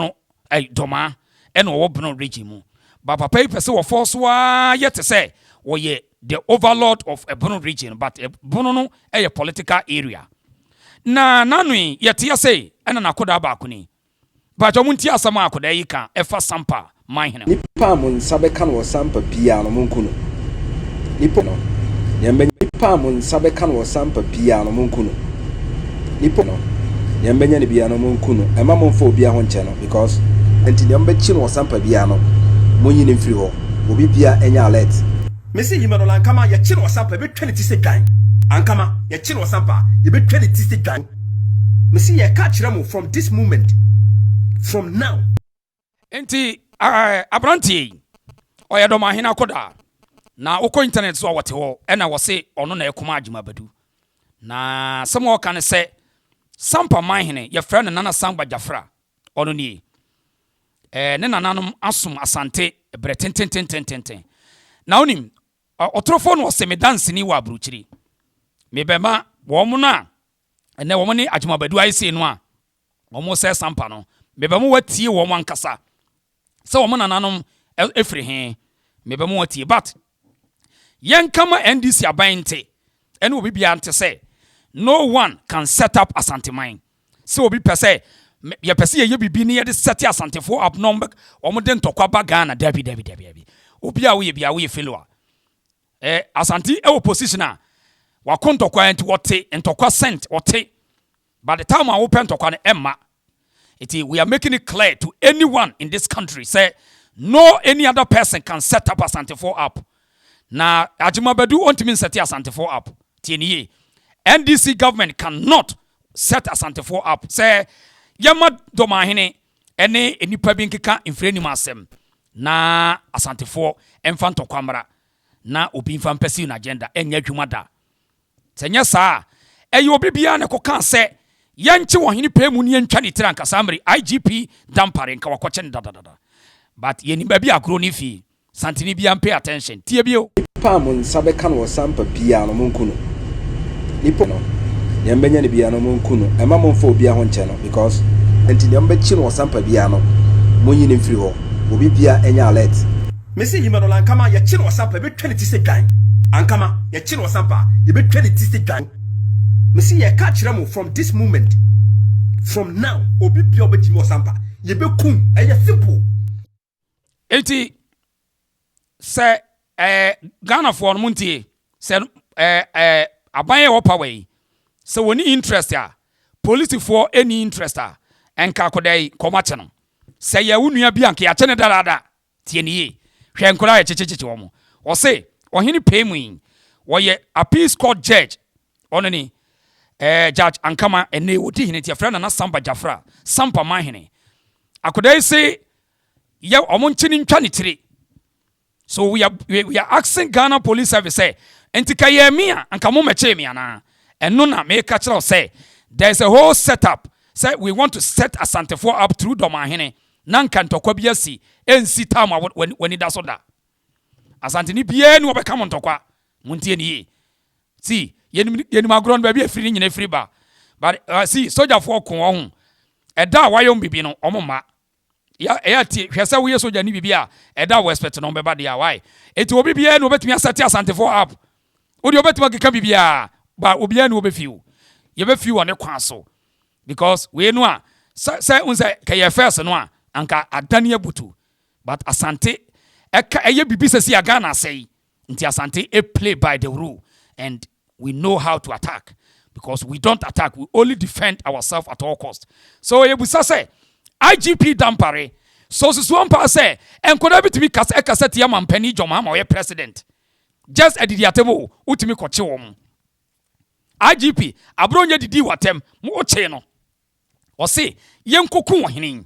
no ɛy Domaa ɛna ɔwɔ Brno region mu but papa yi pɛ sɛ wɔfɔɔ so ara yɛ te sɛ ɔyɛ the overlord of Brno region but Brno no ɛyɛ political area na n'ano yi yɛte ase yi ɛna n'akodaa baako ni Mpakyɛw mo ntie asɛm a akodaa yi ka ɛfa Sampa man hene ho. Nipa a mo nsa bɛka no wɔ Sampa biara no monku no. Nipa no, nea mɛnya. Nipa a mo nsa bɛka no wɔ Sampa biara no monku no. Nipa no, nea mobɛnya no biara no, monku no. Mma mommfa obiara ho nkyɛ no, because enti nea mobɛkye no ɔsampa biara no, monyi no mfiri hɔ. Obi biara nyɛ alert. Mese nyima no na ankama yɛkye no ɔsampa, yɛbɛtwa ne ti sɛ dwan. Ankama yɛkye no ɔsampa a, yɛbɛtwa ne ti sɛ dwan. Mese yɛreka akyerɛ mo from this moment, from now. Enti aberanteɛ yi ɔyɛ dɔmahen akɔdaa na wokɔ internet so a wɔte hɔ ɛna wɔse ɔno na ɛkoma agyima badu na sɛm a ɔka ne sɛ sampa manhene yɛfrɛ no nana sangba gyafra ɔno nie ɛɛ ne nananom asom asante berɛ tentententententen na wonim ɔtorofoɔ no ɔse medanseni wɔ aburukyiri mebɛma wɔn no a ɛnɛ wɔn ne agyima badu ayɛ sei no a wɔresɛe sampa no, mebɛma wɔatie wɔn ankasa sɛ wɔn nananom firi he. Mebɛma wɔatie. But yɛnka ma NDC aban nte, ɛne obi biara nte sɛ no one can set up Asanteman. Sɛ obi pɛ sɛ yɛpɛ sɛ yɛyɛ biribi ne yɛde sɛte Asantefoɔ up na wɔde ntɔkwa ba Ghana, dabi, dabi, dabi, dabi. Obi a woyɛ biara woyɛ failure. Eh, Asante wɔ position a wako ntɔkwa nti wɔte ntɔkwa sent wɔte But the time a wopɛ ntɔkwa no ɛmma. Nti we are making it clear to anyone in this country sɛ no any other person can set up Asantefoɔ app. Na Agyemabadu ɔntumi nsɛte Asantefoɔ app. Tie no yie. NDC government can not set Asantefoɔ app sɛ yɛmma Dɔmanhene ɛne nnipa bi nkeka mfirianim asɛm na Asantefoɔ ɛmfa ntɔkwa mmra na obi mfa mpɛsiw n'agenda ɛnyɛ adwuma da. Sɛ ɛnyɛ saa a, ɛyɛ obi biara na ɛkɔkaa sɛ yɛnkye ɔhene pɛɛ mu ne yɛntwa ne tiri ankasa mmere, IGP Dampare nka wakɔkye no dadadada. But yɛnim baabi a agorɔ no fii. Santene biara mpay attention. Tie bio. Nipa a mo nsa bɛka no ɔsampa biara no monku no, nipa a ɔbɛka no ɔsampa biara no, deɛ mobɛnya no biara no monku no, mma momfa obiara ho nkyɛ no because. Enti deɛ mobɛkye no ɔsampa biara no monyi no mfiri hɔ, obi biara nyɛ alert. Me se Hima no na Ankama yɛkye no ɔsampa yɛbɛtwa ne ti sɛ dwan Ankama yɛkye no ɔsampa yɛbɛtwa ne ti sɛ dwan Me se yɛka kyerɛ mo from this moment from now obi bia ɔbɛkye me ɔsampa yɛbɛkum ɛyɛ simple Enti sɛ ɛɛ Ghanafoɔ no mo ntie sɛ ɛɛ ɛɛ aban yɛ wɔ power yi sɛ wɔn ni interest a polisifoɔ ɛni interest a ɛnka akɔda yi kɔmɔ akyɛ no sɛ yɛ wo nua bi anka yɛakyɛ ne dadaada Tie no yie. Hwɛ nkwadaa a yɛkyekyekyekye wɔn. Ɔse, Ɔhene pɛɛ mu yi, ɔyɛ Appeals Court Judge. Ɔno ni, eh, Judge Ankama. Ɛnnɛ yi, ɔdi hene nti yɛfrɛ no Nana Samba Jafra, Sampa Manhene. Akwadaa yi se yɛ wɔn nkye no ntwa ne tiri. So we are, we are asking Ghana Police Service sɛ, nti ka yɛ me a, anka mo mɛkyee me anaa? Ɛno na meka kyerɛ wo sɛ, there is a whole set up sɛ we want to set Asantefoɔ up through Dɔmanhene. na anka ntɔkwa bi asi ɛnsi tam a w'ani da so da. Asanteni biara ni wɔbɛka mo ntɔkwa. Montie no yie. See, yɛnim, yɛnim agorɔ no, baabi a ɛfiri ne nyina ɛfiri ba. But, uh, see, sogyafoɔ ko wɔn ho. Ɛda a wɔayɛ wɔn bibi no, wɔn mma. Ya, ɛyɛ atie, hwɛ sɛ woyɛ sogya ne bibi a, ɛda a wɔ expect no bɛba deɛ a, why? Eti obi biara ni wɔbɛtumi asɛte asantefoɔ up. Wodeɛ wɔbɛtumi akeka bibiara, ba obiara ni wɔbɛfi o. Yɛbɛfi wɔ ne kwan so. Because wei no a sɛ sɛ wohu sɛ kɛ yɛ first no a anka adane abutu but Asante ɛka ɛyɛ bibi sɛsi a Ghana asɛe nti Asante e play by the rule and we know how to attack because we don't attack we only defend ourself at all cost so yɛ busa sɛ IGP Dampare sɛ osusu ampaa sɛ nkɔdaa bi tumi kasa ɛkasa tia mampanin John Mahama ɔyɛ president just adidi atɛm o wotumi kɔkye wɔn. IGP abere ɔnyɛ didii wɔ atɛm ma wɔkyee no. Ɔse yɛnkɔku ɔhene yi.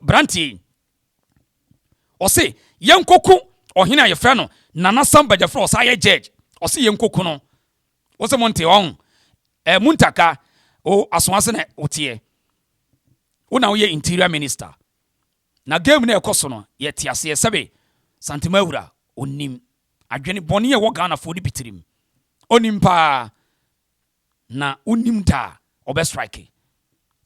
Branteɛ yi. Ɔse yɛnkɔku ɔhene a yɛfrɛ no Nana Sam Bagyafra ɔsa yɛ judge. Ɔse yɛnkɔku no. Wose mo nte ɔho. Eh, Muntaka, o asoase na woteɛ. Wo na woyɛ interior minister. Na game no a ɛkɔ so no yɛte aseɛ sɛbe Santema awura ɔnnim adwene bɔne a ɛwɔ Ghanafoɔ no bi tirim ɔnnim paa na wonnim da a ɔbɛ strike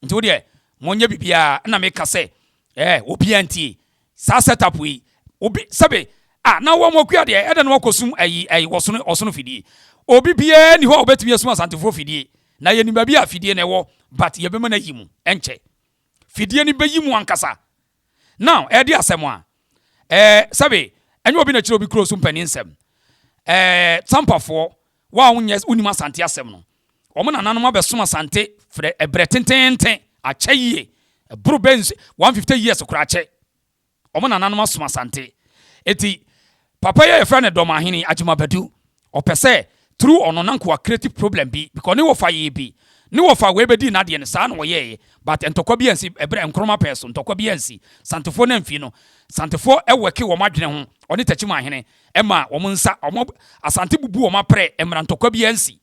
nti wodeɛ monyɛ biribiara na meka sɛ eh obiara ntie saa set up yi obi sɛbe ah na wɔn akua deɛ ɛdɛ na wakɔsum ayi ayi ɔsono ɔsono fidie obi biara ni hɔ a ɔbɛtumi asum asantefoɔ fidie na yɛnim baabi a fidie na ɛwɔ but yɛbɛma no ayi mu ɛnkyɛ fidie no bɛyi mu ankasa. Now, ɛredi asɛm a, ɛɛ, sɛbe, ɛnyɛ obi na ɛkyerɛ obi kuro so mpanin nsɛm. Ɛɛ, Tampafoɔ, wo a wonyɛ, wonim Asante asɛm no, wɔn nananom abɛsom Asante frɛ ɛbrɛ tenteenten, akyɛ yie, ɛboro bɛ nsu, 150 years koraa akyɛ. Wɔn nananom asom Asante. Enti papa yi a yɛfrɛ no Dɔmahene Agyima Badu, ɔpɛ sɛ through ɔno nanka wa create problem bi because ne wɔfa yɛɛ bi. Ne wɔfa wei bɛdii n'adeɛ no, saa na wɔyɛɛeɛ but ntɔkwa biara ansi, ɛberɛ Nkrumah pɛɛ so, ntɔkwa biara ansi. Santefoɔ no amfii no. Santefoɔ worke wɔn adwene ho, wɔne Takyiman hene, ɛmaa wɔn nsa, wɔn, Asante bubu wɔn aprɛ, mmara ntɔkwa biara ansi.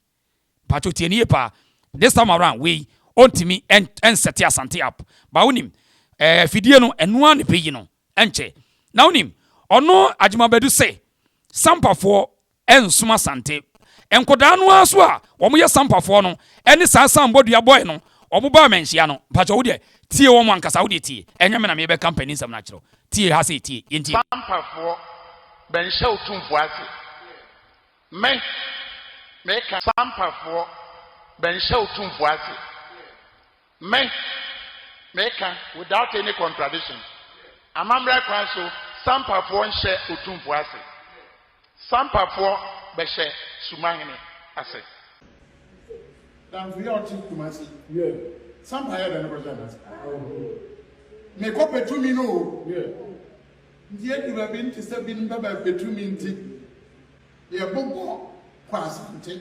Mpakyɛw tie no yie paa. This time around wei ɔntumi ɛnsɛte Asante app but wonim eh afidie no ɛno ara na ɛbɛyi no ɛnkyɛ. Na wonim ɔno Agyema Badu se Sampafoɔ ɛnsom Asante. Nkɔdaa no ara so a wɔn yɛ Sampafoɔ no ɛne saa Sambɔdua boy no wɔn baa Manhyia no. Mpakyɛw wodeɛ tie wɔn ankasa wodeɛ tie ɛnyɛ me na merebɛka mpaninsɛm no akyerɛ wo. Tie ha sei tie yɛntie. Sampafoɔ bɛnhyɛ wo tumfoɔ ase. Me, meka Sampafoɔ, bɛnhyɛ Otumfoɔ ase. Me, meka without any contradiction, amammerɛ kwan so Sampafoɔ nhyɛ Otumfoɔ ase. Sampafoɔ bɛhyɛ Sumahene ase. Danfo yi a ɔte Kumasi Sampa yɛ dɛn kɔhyɛ n'ase? Mekɔ pɛ tumi no o. Ntsi edu baabi no tse sɛ bi nyimpa bɛpɛ tumi ntsi yɛbobɔ kɔ Asante.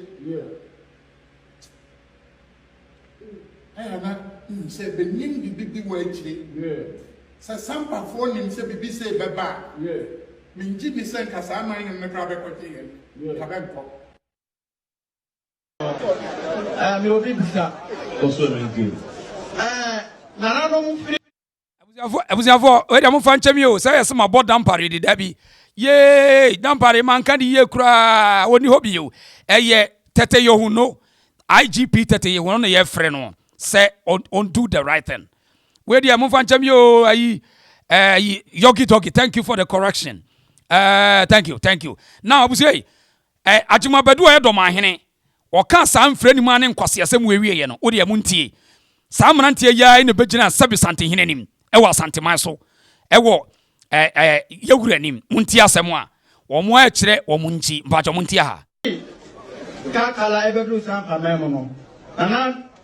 Ayɛ ana ihu sɛ benyim biribi bi wɔ ekyire? Sɛ Sampafoɔ nim sɛ biribi sei bɛba a, mengye nni sɛ nka saa aman nom no koraa bɛkɔgye yɛn. Nka bɛnkɔ. Ɛɛ, mewɔ biribi bisa. Kɔ so, Ɛmɛ nti o. Ɛɛ, nananom firi. abusuafoɔ abusuafoɔ wei deɛ mofa nkyɛm yi o sɛ yɛsɛ mabɔ dampare de da bi yee dampare manka de yie koraa wɔni hɔ bio ɛyɛ tɛtɛ yɛhu no igp tɛtɛ yɛhu no na yɛfrɛ no sɛ undo the right thing wei deɛ mofa nkyɛm yi o ayi ayi yogi dogi thank you for the correction uh, thank you thank you now abusua yi eh, agyemabadu a ɛdɔm ahene Wɔkaa saa mfranimu a ne nkwaseasɛm wɔ awieɛ no, wo deɛ montie. Saa mmeranteɛ yi ara na ɛbɛgyinaa Sɛbi Santehene anim wɔ Asanteman so wɔ Yawura anim. Montie asɛm a wɔakyerɛ wɔn nti. Mpakyɛ montie ha. Kaka la ɛbɛduru saa mpaman mu no, Nana.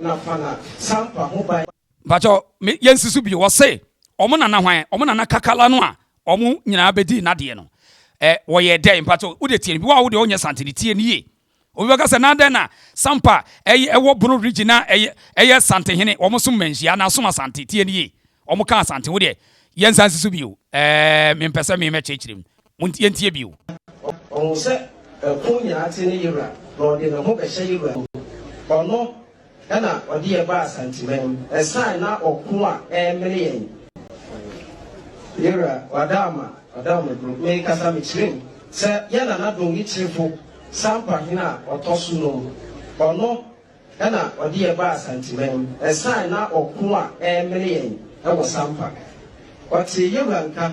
Na fa na sampa ho ban. Mpakyɛw me yɛ nsi so bio wɔse ɔmo nana hwan ɔmo nana kakala no a ɔmo nyinaa bɛdii nadeɛ no ɛ wɔyɛ dɛn mpakyɛw wode tie no bi wo a wode ɔnyɛ sante no tie no yie obi bɛka sɛ na dɛn na sampa ɛyɛ ɛwɔ bono region a ɛyɛ ɛyɛ sante hene ɔmo som manhyia na som asante tie no yie ɔmo ka asante wo deɛ yɛnsa nsi so bio ɛɛ mempɛ sɛ me mɛkyerɛkyerɛ mu Montie ntie bio. Ɔhu sɛ ɛko nyinaa te ne yewura, na ɔde ne ho bɛhyɛ yewura mu. Ɔno na ɔde yɛn baa Asanteman mu, ɛsan na ɔko a ɛremene yɛn. Yewura, Wadaama, Wadaama Bro, mekasa mekyerɛ mu sɛ yɛn Nana Dongi Kyerefo Sampa Hene a ɔtɔ so num. Ɔno na ɔde yɛn baa Santiman. Ɛsan na ɔko a ɛremene yɛn wɔ Sampa. Ɔtee Yewura nka,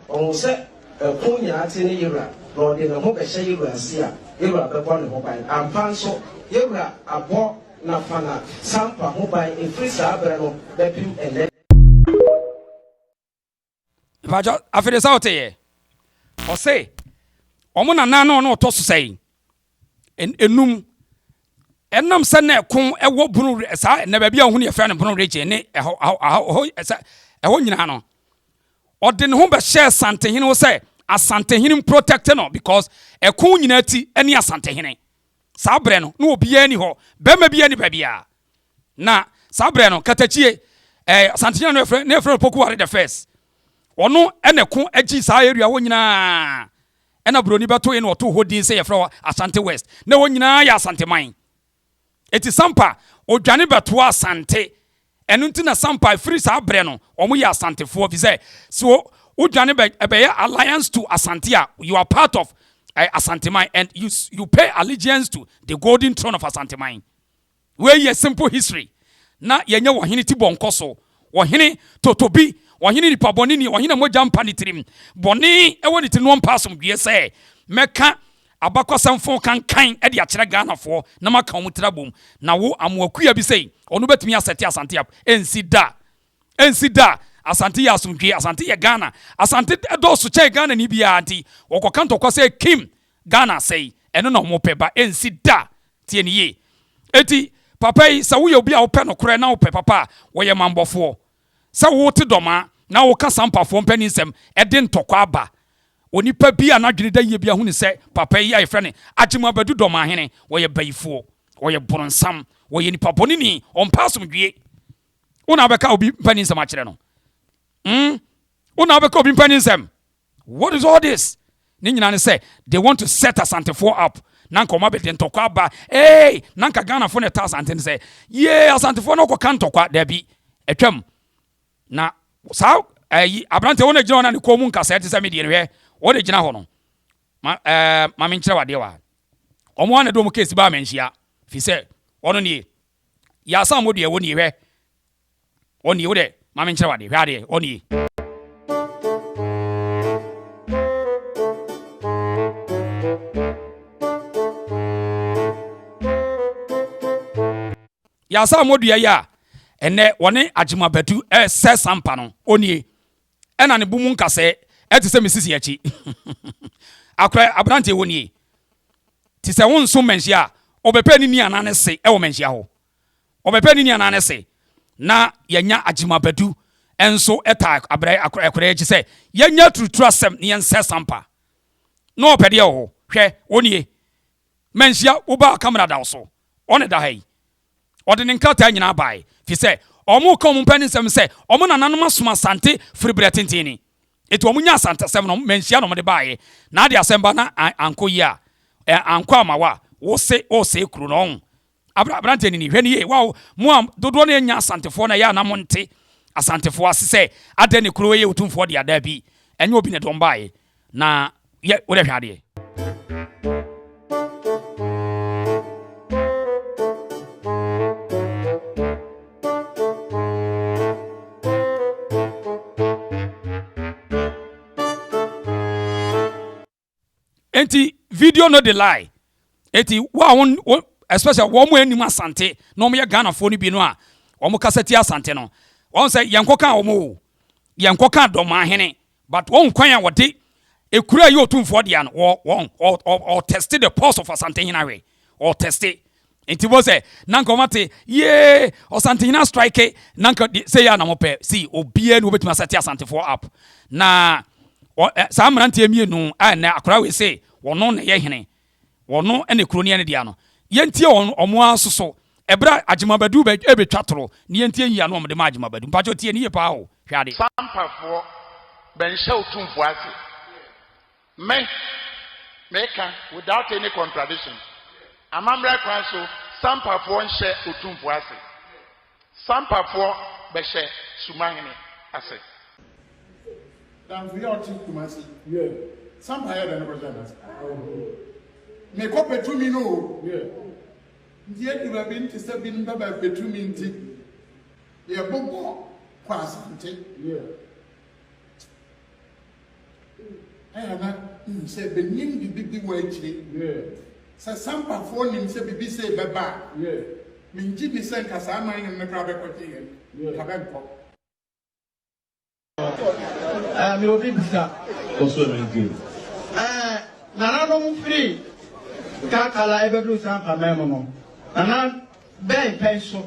ɔhuu sɛ ɛko nyinaa te ne Yewura, na ɔde ne ho bɛhyɛ Yewura nsi a, Yewura bɛbɔ ne ho ban. Ampa nso, Yewura abɔ Nafana Sampa ho ban ɛfiri saa berɛ no bɛpem ɛnnɛ. mpakyɛ afei de sɛ ɔte yɛ ɔse ɔmo nana na ɔno ɔtɔ so sɛn enum ɛnam sɛ na ɛko ɛwɔ bunu saa na baabi a ɔho ne yɛfrɛ no bunu regye ne ɛhɔ ɛhɔ ɛsɛ ɛhɔ nyinaa no ɔde ne ho bɛhyɛ asantehene ho sɛ asantehene mprotɛkte no because ɛko nyinaa ti ɛne asantehene saa berɛ no na obiara ni hɔ bɛrima biara ni baabiara Na saa berɛ no, Katakyie, eh, Asantenya no yɛfrɛ, na yɛfrɛ no Pokuware the first. Ɔno ɛna ko agyi saa area hɔ nyinaa. Ɛna Buroni bɛtoe na ɔtoo hɔ din sɛ yɛfrɛ hɔ Asante West. Na ɛwɔ nyinaa yɛ Asanteman. Eti Sampa, ɔdwane bɛtoa Asante. Ɛno nti na Sampa firi saa berɛ no, wɔn yɛ Asantefoɔ. Fi sɛ, so wodwane bɛ, ɛbɛyɛ alliance to Asante a, you are part of uh, Asanteman and you, you pay allegiance to the golden throne of Asanteman. Wei yɛ simple history na yɛnyɛ ɔhene ti bɔ nkɔso, ɔhene totobi, ɔhene nipa bɔne ni, ɔhene a mogya mpa ne tirim, bɔne wɔ ne tirim na ɔmpa asomdwoeɛ sɛ mɛka abakɔsɛm fo kankan de akyerɛ Ghanafoɔ na maka wɔn tiri abom na wo Amoa kua bi sei ɔno bɛtumi asɛte Asante up, ɛnsi da, ɛnsi da, Asante yɛ asomdwoeɛ, Asante yɛ Ghana, Asante dɔɔso kyɛn Ghanani biara nti wɔkɔka ntɔkwa sɛ Kim Ghana asɛe, ɛno na wɔpɛ ba ɛnsi da, tie no yie. Enti papa yi sɛ woyɛ obi a wopɛ nokorɛ na wopɛ papa a, wɔyɛ manbɔfoɔ. Sɛ wote dɔmaa na woka sampafoɔ mpanin nsɛm ɛde ntɔkwa aba. Onipa bi a n'adwene da yie biara hunu sɛ papa yi a yɛfrɛ no Agyem Abadu Dɔmaahene, ɔyɛ bayifoɔ, ɔyɛ boronsam, ɔyɛ nipa bɔneni, ɔmpɛ asomdwie. Wo na wobɛka obi mpanin nsɛm akyerɛ no? Wo na wobɛka obi mpanin nsɛm? What is all this? Ne nyinaa ne sɛ they want to set Asantefoɔ up na nka wɔn abɛde ntɔkwa aba ee na nka Ghanafoɔ na ɛta Asante no sɛ yee Asantefoɔ no kɔka ntɔkwa daabi atwam na saa ɛyi eh, aberanteɛ wɔn agyina hɔ na ne kɔn mu nkasa ɛte sɛ me deɛ no hwɛ wɔn agyina hɔ no ma ɛɛ eh, ma me nkyerɛ wadeɛ wa wɔn a na de wɔn keesi baa mɛ nhyia fi sɛ wɔn nie yɛ asan mo deɛ wɔn nie hwɛ Ɔnie, wo dɛ ma menkyerɛ wo ade, hwɛ adeɛ, ɔnie. Yasa mo dua yi a, ɛnɛ wɔne agyemabatu ɛresɛ sampa no, ɔnie. Ɛna ne bo mu nkasɛɛ ɛte sɛ me sisi akyi. Akorɛ aberanteɛ ɔnie. Te sɛ wonso manhyia a, ɔbɛpɛ ne ni anaa ne se ɛwɔ manhyia hɔ. Ɔbɛpɛ ne nuanan no se na yɛanya agyima badu nso taa abrɛ akoraa akyi sɛ yɛanya aturuturu asɛm na yɛnsɛ sampa. Na ɔpɛ deɛ wɔ hɔ. Hwɛ, wo nie. Manhyia wo ba a kamera da wo so. Ɔne da ha yi. Ɔde ne nkrataa nyinaa baeɛ, firi sɛ wɔreka wɔn mpɛn nsɛm sɛ wɔn nananom asom Asante firi berɛ tenten ni. Enti wɔnya Asante asɛm no, manhyia na wɔde baeɛ. Na ade asɛm ba na ankɔ yie a, ankɔ ama wo a, wo se woresɛe kuro no, ɔho. Abra, aberanteɛ nini, hwɛ no yie, wow, mo a dodoɔ no yɛ nyɛ Asantefoɔ no ɛyɛ a na mo nte Asantefoɔ ase sɛ adɛn ne kuro yɛ Otumfoɔ dea, daabi, ɛnyɛ obi na ɛde wɔn baeɛ, na yɛ, wo dɛ hwɛ adeɛ. nti video no de lie nti wo a wo especially wɔn mu anim asante na wɔn yɛ ghanafoɔ no bi no a wɔn kasa ti asante no wɔn sɛ yɛn kɔ kan wɔn o yɛn kɔ kan dɔm ahene but wɔn kwan a wɔde ekura yi otumfoɔ deɛ no wɔ wɔn ɔ ɔ ɔ test the pulse of asante hene ahwɛ ɔ test nti bɔ sɛ na nka wɔn ate yee ɔsantehena strike na nka sɛ yɛ anamɔ pɛ si obiara na wɔbɛtumi asɛte asantefoɔ app na eh, saa mmeranteɛ mmienu a ɛnɛ akora wei se wɔn na ɛyɛ hene wɔn na kuro ne ɛne deɛ no yɛntie wɔn wɔn ara soso ɛberɛ a agyemabadu ɛbɛtwa toro ne yɛntie yie ano wɔn de ma agyemabadu mpatsɔ tie ne yie paa o hwɛ ade. sampafoɔ bɛnhyɛ otumfoɔ ase. Me, meka, without any contradiction, amammerɛ kwan so Sampafoɔ nhyɛ Otumfoɔ ase. Sampafoɔ bɛhyɛ Sumahene ase. Danfo yɛ ɔte Kumasi. Sampa yɛ dɛn kɔhyɛ n'ase? Me kɔ pɛ tumi no o. Nti edu baabi nte sɛ binom pɛ bɛ pɛ tumi nti yɛ bobɔ kɔ Asante. Ɛyɛ a na minim sɛ benyim biribi bi wɔ ekyir. Sɛ Sampafoɔ nim sɛ biribi sei bɛba a, menngye nni sɛ nka saa aman nnum no koraa bɛkɔgye hɛn. Nka bɛnnkɔ. Ɛɛ, mewɔ biribiara nso a mennka yi. Ɛɛ, nananom firi Kalkala rebɛduru Sampa man mu no, nana bɛn pɛn so?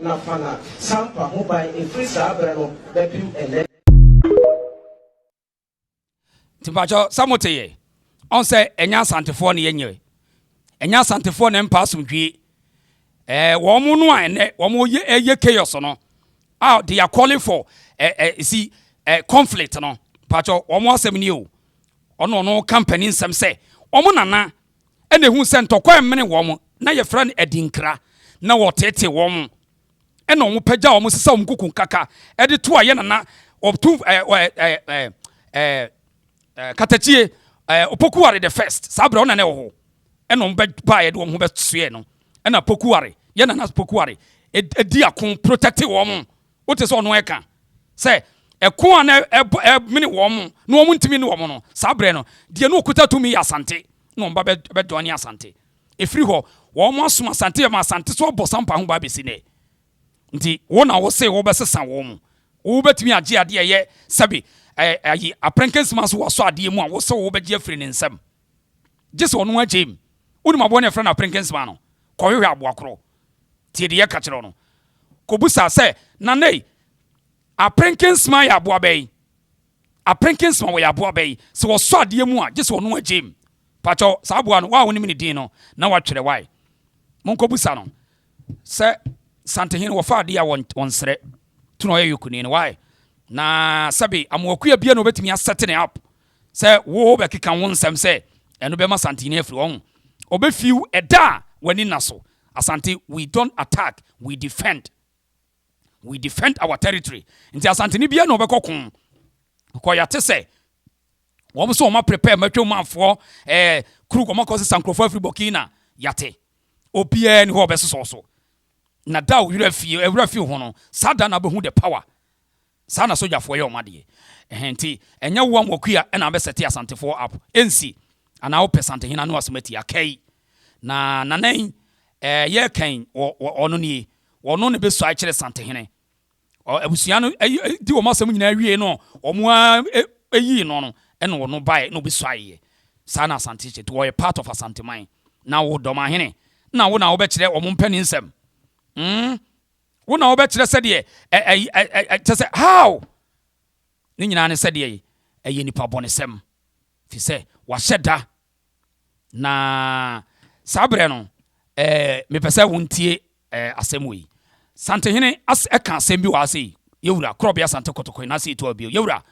na Fana Sampa ho ban firi saa berɛ no bɛpem ɛnnɛ. Nti mpakyɛ sɛ mote yɛ ɔn sɛ ɛnyɛ asantefoɔ ne yɛnyɛ ɛnyɛ asantefoɔ ne mpa asomdwie ɛɛ wɔn mo no a ɛnɛ wɔn mo yɛ ɛyɛ chaos no a they are calling for ɛɛ ɛɛ si ɛɛ conflict no mpakyɛ wɔn mo asɛm ni o ɔno ɔno company nsɛm sɛ wɔn nana ɛna ehu sɛ ntɔkwa ɛmene wɔn na yɛfrɛ no adinkra na wɔtetee wɔn ɛna wɔn pɛgya wɔn sisa wɔn kuku nkaka ɛde to a yɛ nana ɔtu ɛɛ ɛɛ ɛɛ ɛɛ katakyie ɛɛ opokuware the first saa abirɛ ɔna na ɛwɔ hɔ ɛna wɔn bɛ ba yɛ de wɔn ho bɛ soɛ no ɛna pokuware yɛ nana pokuware ɛdi ako protɛte wɔn. Wote sɛ ɔno reka sɛ, Ɛko a na ɛremene wɔn na wɔntumi ne wɔn no, saa berɛ no, deɛ na ɔkuta tumi yɛ Asante, na wɔn ba bɛdɔɔne Asante. Ɛfiri hɔ, wɔasom Asante ma Asante so abɔ sampa ho ban bɛsi nnɛ. Nti wo na wose wobɛsesa wɔn mu? Wobɛtumi agye adeɛ a ɛyɛ sɛbe ayi Aprenke Nsimanso wɔ Asɔ adeɛ mu a wose wobɛgye afiri ne nsam? gyesɛ ɔno agyem wonim aboa no yɛfrɛ no aperenkensema no kɔhwehwɛ aboa korɔ tie de yɛka kyerɛ no kɔbusa sɛ nanei aperenkensema yɛ aboa bɛyi aperenkensema wɔyɛ aboa bɛyi sɛ wɔsɔ adeɛ mu a gyesɛ ɔno agyem pakyɛw saa aboa no waa wonim ne din no na watwerɛ wae monkɔbusa no sɛ santehene wɔfa adeɛ a wɔnsrɛ tuna ɔyɛ yokuni no wae na sɛbe amoakuya bia na wɔbɛtumi asɛte ne app sɛ wo ho bɛkeka wo nsɛm sɛ ɛno bɛma Santini afiri hɔ ho. Ɔbɛfi wo ɛda a w'ani nna so. Asante we don't attack, we defend. We defend our territory. Nti Asanteni biara na ɔbɛkɔ ko kɔ yɛate sɛ wɔn so wɔn aprepare matwa mu afoɔ ɛɛ eh, kuru wɔn akɔ sesa nkurɔfoɔ afiri Burkina yɛate obiara ni hɔ ɔbɛsosɔ so na da owura fie ewura fie ho no saa da na abɛhu the power Saa na sogyafoɔ yɛ wɔn adeɛ. Ɛhɛn nti ɛnyɛ woa Mwakuya na wabɛ sɛte Asantefoɔ app. Ɛnsi. Anaa wopɛ Santehene ano asɛm atia. Kai. Na Nana yi ɛɛ yɛreka yi wɔ wɔ ɔno nie. Ɔno na ɛbɛsuae kyerɛ Santehene. Ɔ abusua no ɛyi ɛyi di wɔn asɛm nyinaa wiee no wɔn ara ɛ ɛyii no no ɛna ɔno baeɛ na ɔbɛsuaeɛ. Saa na Asante te. Nti ɔyɛ part of Asanteman. Na wo Dɔmahene na wo na wobɛkyerɛ wɔn mpanin nsɛm. Umm. wo na wobɛkyerɛ sɛdeɛ kyɛ sɛ how ne nyinaa ne sɛdeɛ ɛyɛ nipa bɔnesɛm fi sɛ wahyɛ da na saa berɛ no mepɛ sɛ wontie asɛm wei santehene ɛka asɛm bi wɔ ha sei yɛwura korɔbea sante kɔtɔkɔe na ase ɛtu abio yɛwura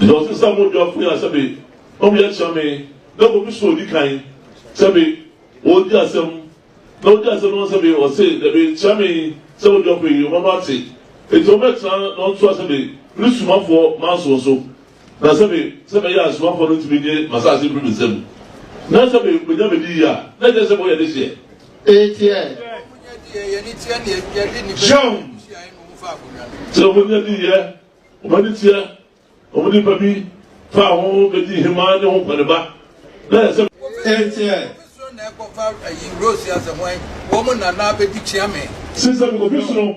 Dɔte sa mo dua fo ya sɛ be ɔmo yɛ kyɛ me na ko mi so odi kan sɛ be wɔ di asɛm na odi asɛm no sɛ be ɔse dɛ be kyɛ me sɛ mo dua fo yi ɔma no ate eti ɔmo bɛ tena na ɔntoa sɛ be me ne suma foɔ manso nso Na sɛ me sɛ mɛyɛ asomafoɔ no tumi gye m'asase firi me nsam, na sɛ me menya me de yie a, na ɛkyerɛ sɛ moyɛ dehyeɛ. Eteɛ. John. Sɛ wɔn ani adi yɛ, wɔn ani teɛ, wɔn nipa bi faa ho bɛdi hemaa ne ho kɔne ba, na yɛ sɛ. Eteɛ. Sisɛ mekɔfi soro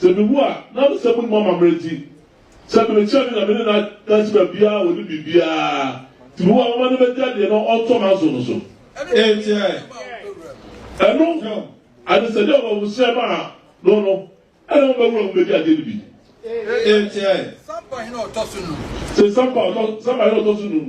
Sɛ miwu a, na mesɛ munim amammerɛ nti, sɛ merekyerɛ me Nyame ne n'adanse ma biaa a ɔnim biribiaa, tumi wɔ mɛma no bɛgya deɛ na ɔntɔ m'aso no so. Enti ɛ? Ɛno ho ade sɛ deɛ ɔbɔfoserɛ maa no no, ɛna mo bɛwura mu bɛdi adeɛ no bi. Enti ɛ? Sɛ Sampa hene a ɔtɔ so num.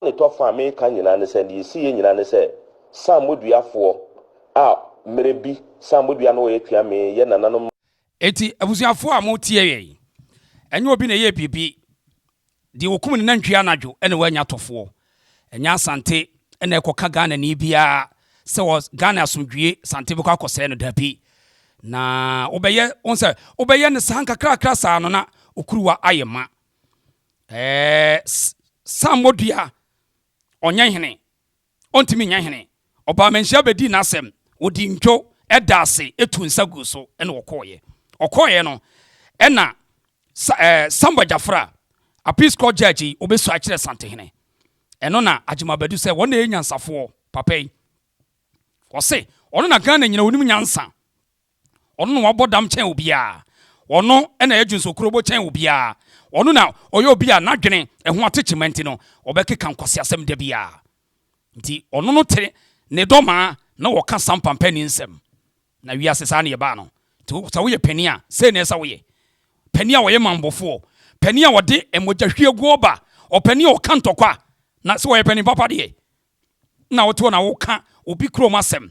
Amanetɔfo a mereka nyinaa ne sɛ, nea esi yɛ nyinaa ne sɛ saammoduafoɔ a mmerɛ bi saammoduaa no wɔyɛ tua me yɛ nananom ma. Enti abusuafoɔ a motie yɛn yi, ɛnyɛ obi na ɛyɛɛ biribi. Deɛ ɔkum ne nantwie anadwo na wanya atɔfoɔ. Ɛnyɛ Asante na ɛkɔka Ghanani biara sɛ wɔ Ghana asomdwoeɛ Asante bɛkɔ akɔsɛe no, dabi. Na wobɛyɛ, wohu sɛ, wobɛyɛ no saa nkakrakra saa no na wo kuruwa ayɛ ma. Samuel dua ɔnyɛ hene ɔntumi nyɛ hene ɔbaa manhyia bɛdii n'asɛm ɔdi ndwo ɛda ase ɛtu nsa gu so ɛna ɔkɔɔyɛ ɔkɔɔyɛ no ɛna Samuel Gyafra appeals court judge yi ɔbɛsua kyerɛ Santehene ɛno na Agyema Badu sɛ wɔn na ɛyɛ nyansafoɔ papa yi ɔse ɔno na Ghana nyina ɔnim nyansa Ɔno na wabɔ dam kyɛn obiara. Ɔno na ɛyɛ dwonsokorobo kyɛn obiara. Ɔno na ɔyɛ obi a n'adwene, ɛho atekyema nti no, ɔbɛkeka nkwaseasɛm da biara. Nti, ɔno no te ne dɔ maa na ɔka sampa mpanin nsɛm. Na wiase saa na ɛbaa no. Nti, sɛ woyɛ panin a, sei na ɛsɛ sɛ woyɛ. Panin a ɔyɛ mambofoɔ, panin a ɔde mogyahwieguo ba, ɔpanin a ɔka ntɔkwa. Na sɛ ɔyɛ panin papa deɛ, na wote hɔ na woka obi kurom asɛm.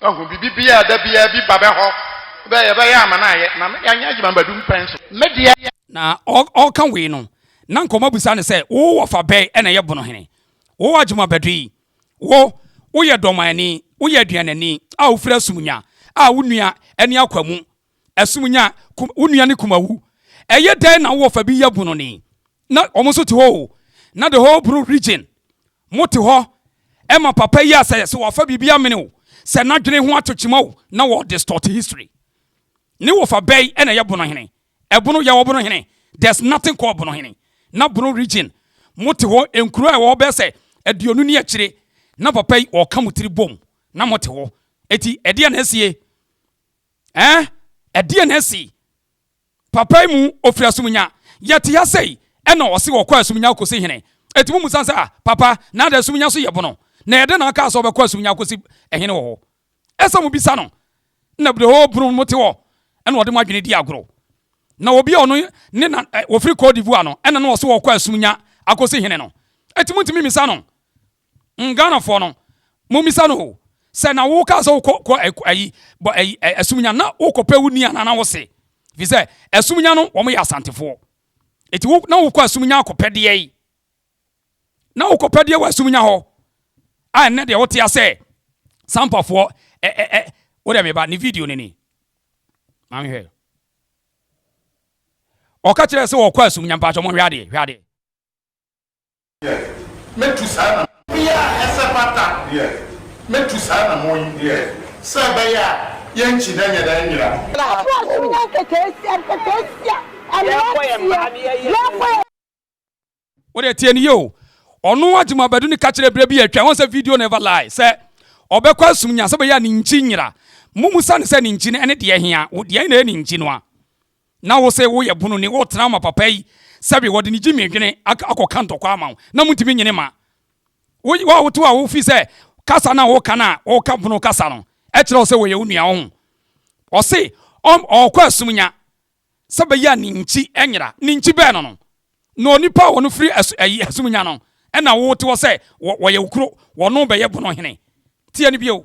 Wahu biribi biara a da biara bi ba bɛhɔ bɛ yɛbɛyɛ ama no ayɛ na yɛanyɛ adwuma bɛdu mpɛn so. Me deɛ. Na ɔreka wei no, na nkɔmmɔ bisa no sɛ, Wo wɔfa bɛn na ɛyɛ Bonohene? Wo adwuma bɛdo yi? Wo, woyɛ dɔmanani, woyɛ aduanani a wofiri Asumnya a wo nua ne Akwamu ɛsom nya kum, wo nua ne kumawu. Ɛyɛ dɛn na wowɔ fa bi yɛ bononi? Na wɔn nso te hɔ o, na the whole Bruu region, mo te hɔ ɛma papa yi a sɛ sɛ wɔfa biribi amene o, sɛ n'adwene ho ato kyima o, na wɔ distort history. Ne wɔfa bɛn ɛna ɛyɛ bonohene? Ɛbono, yɛwɔ bonohene, there's nothing called bonohene. Na Bruu region, mo te hɔ, nkuro a ɛwɔ hɔ bɛyɛ sɛ aduonu ne akyire, na papa yi ɔka mo tiri bom, na mo te hɔ. Eti ɛdeɛ na asie? Ɛɛ, ɛdeɛn na asi? Papa yi mu, ɔfiri Asumnya. Yɛte ha sei, ɛna ɔse ɔkɔ Asumnya akɔsi hene. Enti mommisa no sɛ, Ah, papa, na adɛn Asumnya so yɛ bono? Na ɛyɛ dɛn na ɔkaa sɛ ɔbɛkɔ Asumnya akɔsi hene wɔ hɔ? Ɛsɛ sɛ mobisa no. Na bere hɔ bono no mote hɔ, ɛna ɔde mo adwene di agorɔ. Na obi a ɔno ne na, ɔfiri Côte d'Ivoire no, ɛna na ɔse ɔkɔ Asumnya akɔsi hene no. Enti montumi mmisa no. Mm Ghanafoɔ no mommisa no o, sɛ na wo kaa sɛ wokɔ kɔ ayi bɔ ayi asumunya na wokɔ pɛ wo ni anaa na wo se fi sɛ asumunya no wɔn yɛ asantefoɔ eti wo na wokɔ asumunya akɔ pɛdeɛ yi na wokɔ pɛdeɛ wɔ asumunya hɔ a ɛnɛ deɛ wote asɛ sampafoɔ ɛ ɛ ɛ wo dɛ meba ne video no ni maame hwɛ ɔka kyerɛ sɛ wɔkɔ asumunya mpakyɛ mo hwɛ adeɛ hwɛ adeɛ Mɛtu saa anamɔ. Bea a ɛsɛ fata. Mɛtu saa anamɔ yi. Sɛ ɛbɛyɛ a yɛnkyi na ɛnyɛ dɛn nyera. Ɛfiri ɔsoro nyɛ nkekaasia nkekaasia, mmeranteɛ, yɛbɔ yɛn. Wo deɛ tie no yie o. Ɔno Agyimo Abadu no ka kyerɛɛ berɛ bi a atwa, woahu sɛ video no never lie, sɛ ɔbɛkɔ asum nya sɛ ɛbɛyɛ a ne nkyi nyera. Mommisa no sɛ ne nkyi no ɛne deɛ hea? Wo deɛ ɛyɛ na ɛyɛ ne nkyi no a. Na wo se woyɛ bunu ni wotena ama papa yi sɛbi wɔde ne gyimie dwene akɔ ka ntɔkwa ama wo na montumi nyene ma wo wo a wote hɔ a wo fi sɛ kasa no a wo ka no a wo ka bunu kasa no ɛkyerɛ wo sɛ wɔyɛ wo nua oho ɔse ɔɔkɔ asum nya sɛ bɛyɛ a ne nkyi ɛnyera ne nkyi bɛɛ no no na onipa a wɔno firi asum nya no ɛna wote hɔ sɛ wɔyɛ wo kuro wɔno bɛyɛ bunu hene tie no bio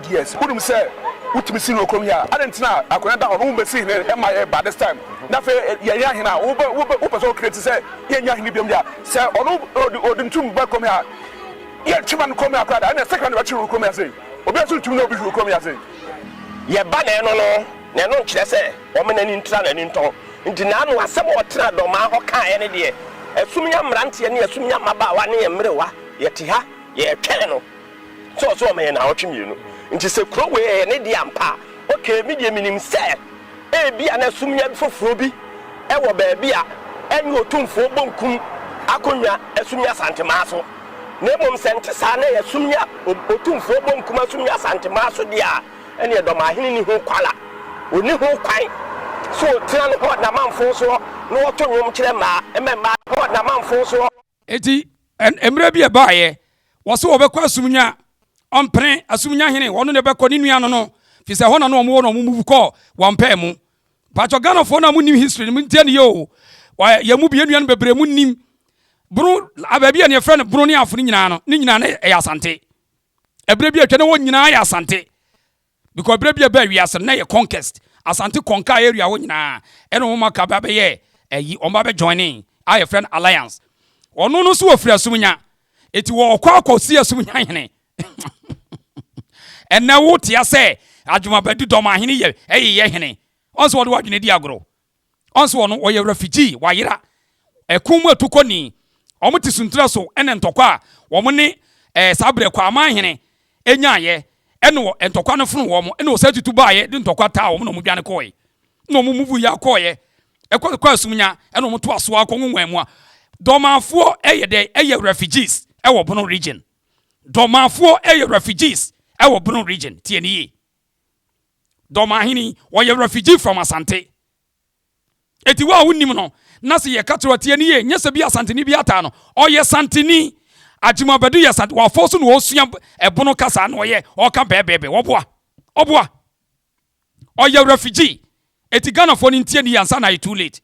Yes wonim sɛ wotumi si no wɔ kurom he a adɛn nti na akwanya da hɔ no wombɛsi hene mma yɛ by this time na afei yɛnyɛ ahene a wobɛ wobɛ wopɛ sɛ wo create sɛ yɛnyɛ ahene biom deɛ a sɛ ɔno odi odi ne tum ba kurom he a yɛntwe ma no kurom he a koraa da ɛneɛ sakra na ɛbɛkye no wɔ kurom he ase obiara nso ntumi ne obi he wɔ kurom he ase. Yɛba na ɛno no na ɛno nkyerɛ sɛ wɔma n'ani ntra n'ani ntɔn nti na ano asɛm a ɔtenaa dɔmmaa hɔ kaeɛ ne deɛ, Asumnya mmeranteɛ ne asumnya mmabaawa ne mmerewa yɛte ha yɛretwɛn no. Sɛ ɔse ɔma yɛn naawɔtwe mmienu nti sɛ kuro wei ɛyɛ ne dea ampa a ok me deɛ menim sɛ ebia na sumina foforɔ bi wɔ baabi a ɛne otumfoɔ bonkum akonnwa asumina asantemaa so na mmom sɛ nte saa na ɛyɛ sumina otumfoɔ bonkum asumina asantemaa so deɛ a ɛneɛ dɔmahene nni ho kwala ɔnni ho kwan sɛ ɔtena no hɔ namanfoɔ soɔ na ɔto nwom kyerɛ mmaa ɛmɛ mmaa hɔ namanfoɔ soɔ. Enti, mmerɛ bi ɛbaeɛ, wɔse wɔbɛkɔ asumnya, ɔmpene, asumnya hene, wɔn na ɛbɛkɔ ne nua no no, fi sɛ ɛhɔ na na wɔn wɔ na wɔn move kɔɔ wɔn pɛɛ mu. Paatwɔ Ghanafoɔ no a monim history no montie no yɛ o, yɛn mu bi, yɛn nua no bebree monim Bono, baabi yɛ ne yɛfrɛ no Bono ne Afo no nyinaa no, ne nyinaa na ɛyɛ Asante. Ɛberɛ bi atwa na wɔn nyinaa yɛ Asante. Because berɛ bi a ɛbaa wiase no na ɛyɛ conquest, Asante conquer area hɔ nyinaa, ɛna wɔn aka ba bɛyɛ ayi, wɔn ba bɛ joinee a yɛfrɛ no alliance. Ɔno no nso ɔfiri Asumnya, enti ɔkɔ akɔ si Asumnya hene. Ɛnnɛ wo tea sɛ Adwumabadi Dɔmahene yɛ ɛyeyɛ hene, ɔnsɛ wɔde w'adwene di agorɔ. Ɔnso ɔno ɔyɛ refugee, wayera. Ɛko mu atukɔni. Wɔn te suntra so ɛna ntɔkwa a wɔn ne ɛɛ saa berɛ Kwaaman hene ɛnyaaeɛ ɛna wɔ ntɔkwa no fono wɔn ɛna ɔsan tutu baaeɛ de ntɔkwa taa wɔn na wɔn dwane kɔɔɛ. Ɛna wɔn move yɛ akɔɔɛ ɛkɔ kɔ Asumnya ɛna wɔn toa soa kɔ Nwonwan mu a Dormanfoɔ ɛyɛ dɛ ɛyɛ refugees ɛwɔ Bono region. Dormanfoɔ ɛyɛ refugees ɛwɔ Bono region. Tie no yie. Dɔmahene, ɔyɛ refugee from Asante. Eti wo a wonnim no, na se yɛka kyerɛ wo a tie no yie, nyɛ sɛ bi Asanteni bi ataa no. Ɔyɛ Santeni. Agyimo Badu yɛ Santeni. Wafɔɔ so na ɔresua ɛbono kasa na ɔyɛ, ɔreka bɛɛbɛɛbɛ. Wɔboa. Ɔboa. Ɔyɛ refugee. Eti Ghanafoɔ no ntie no yie ansa na ayɛ too late.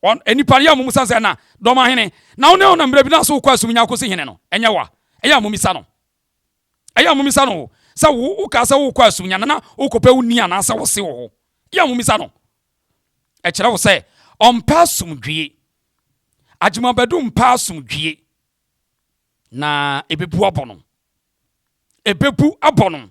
Ɔn, nnipa no yɛ a wɔmmisa sɛ, na, Dɔmahene, na wo ne ɔnam mmerɛ bi na se wokɔ Asumnya akɔsi hene no? Ɛnyɛ wo a, ɛyɛ a mommisa no. Ɛyɛ a mommisa no sɛ wokaa sɛ worekɔ asunyana na worekɔpɛ wo ni anaasɛ wo se wɔ hɔ. Yɛ a mommisa no. Ɛkyerɛ wo sɛ ɔmpɛ asomdwie. Agyemabadu mpɛ asomdwie. Na ɛbɛbu abɔ no. Ɛbɛbu abɔ no.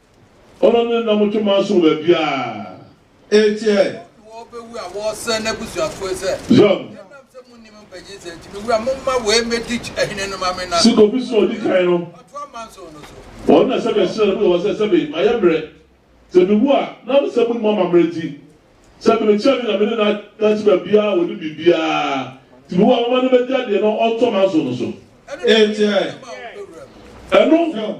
Ɔno ne nam to man so wɔ baabiara. Enti ɛ? Wɔn na wɔbɛwu a wɔresɛe n'abusuafoe sɛ. Zion. Ɛnam sɛ monnim mpagye nsɛm nti, me wura, momma wei mmɛdi hene no ma me na. Se kɔpi so a ɔdi kan no. Ɔtoa manso no so. Ɔno na sɛbe ɛhyerɛn no mu wɔ hɔ sɛ sɛbe mayɛ mmerɛ. Sɛ mewu a, nam sɛ monnim amammerɛ nti, sɛbe mekyerɛ me Nyame ne no adanse baabiara a wɔnim biribiara nti, me wura, momma no mmɛdi adeɛ na ɔntoa manso no so. Enti ɛ? Ɛno